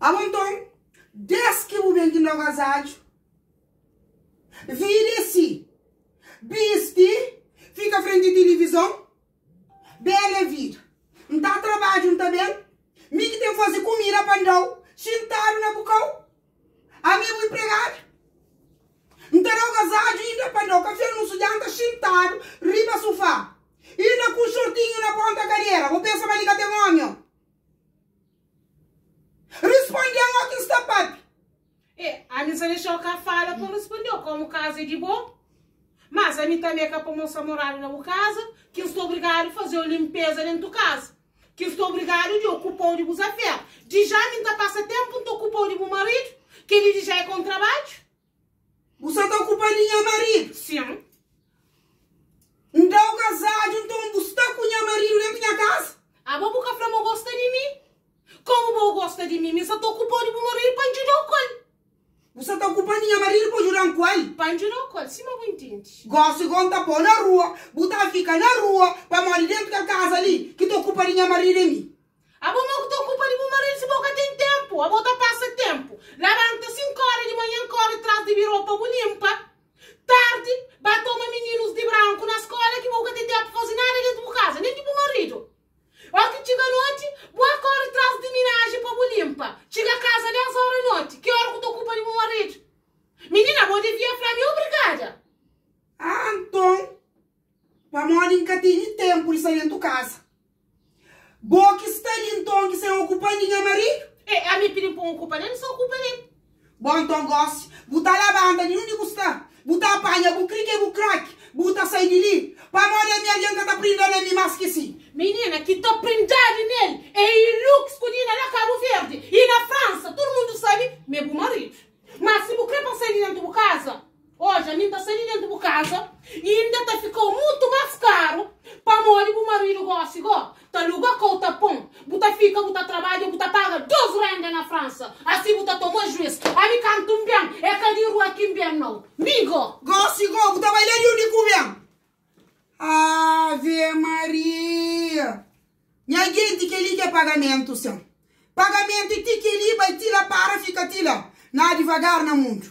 Amo nton, des ki bu ben di Nova Ajaccio, viri e si, bisti, fika frenti tilivizon, bela e vida. N ta trabadju, N ta ben, mi ki ten faze kumida pa N da-u, xintadu na bu kau, Ami é un inpregadu. N ta da-u gazadju i N ta panda-u kafé nun sudjanta xintadu riba sufá. Inda ku un xortinhu na ponta kadera. Bu pensa ma li ka ten ómi, ô? Responde-m, ó ki N sta pape! E, ami N sta dexa-u ka fala pa N responde-u komu kaza é di bo. Mas ami tanbe ka pamodi N sta moradu na bu kaza ki N sta obrigadu faze-u linpeza dentu kaza. Ki el sta obrigadu di okupa-u di bus afér. Dja mi N ta pasa ténpu N ta okupa-u di bu maridu. Kel-li dja é ka un trabadju. Bu sta ta okupa di nha maridu? Sin. Nta bu kazadu, nton bu sta ku nha maridu déntu nha kaza? Aba bu ka fla ma bu gosta di mi. Komu bo gosta di mi, mi sta ta okupa-u di bu maridu pa N djuda-u ku el. Bu sa ta okupa-m di nha maridu pa djuda-m ku el? Pa N djuda-u ku el, sima bu intindi. Gósi gó N ta pô-u na rua, bu ta fika na rua, pamodi déntu kel kaza li, ki ta okupa di nha maridu é mi. Abo mau ki ta okupa di bu maridu, si bo ka ten ténpu, abo ta pasa ténpu. Labanta sinku óra di manhan, kóre tras di birô pa bu linpa. Tardi, ba toma mininus di branku na skóla, ki bo ka ten ténpu pa faze nada déntu bu kaza, nen di bu maridu. Óki txiga noti, bu a kóre tras di minaji pa bu linpa. Txiga kaza dés óra noti, ki óra ku ta ocupa di bu maridu. Minina, bo devia fla mi obrigada. Ah, anton, pamodi N ka tene tenpu di sta dentu kaza, bo ki sta li, nton, ki sen ocupa di nha maridu. E ami pidi-m pa N ocupa del, N sta ocupa del. Bom nton gosi, bu ta labanta di undi bu sta, bu ta apanha bu krike bu krake, bu ta sai di li, pamodi ami algen ka ta prinda na mi mas ki si. Minina ki ta prindadi nel e Iluk, skodina na Kabu Verdi i na Fransa. Tudu mundu sabi ma e bu maridu. Mas si bu kre pa sai di dentu bu kaza. Odja, mi N ta sai di dentu bu kaza, y N inda ta fika-u mutu más karu, pamodi bu maridu gósi go ta aluga kau ta pon. Bu ta fika, bu ta trabadja, bu ta paga dos rénda na Fransa, asi bu ta toma jues. Ami kantu N ben, é ka di rua ki N ben nau, mi go. Gósi go, bu ta bai la di undi ku ben. Ave Maria! Nha genti, kel-li ki é pagamentu, sen. Pagamentu é ti kel-li, bai ti la, para, fika ti la. Na divagar na mundu.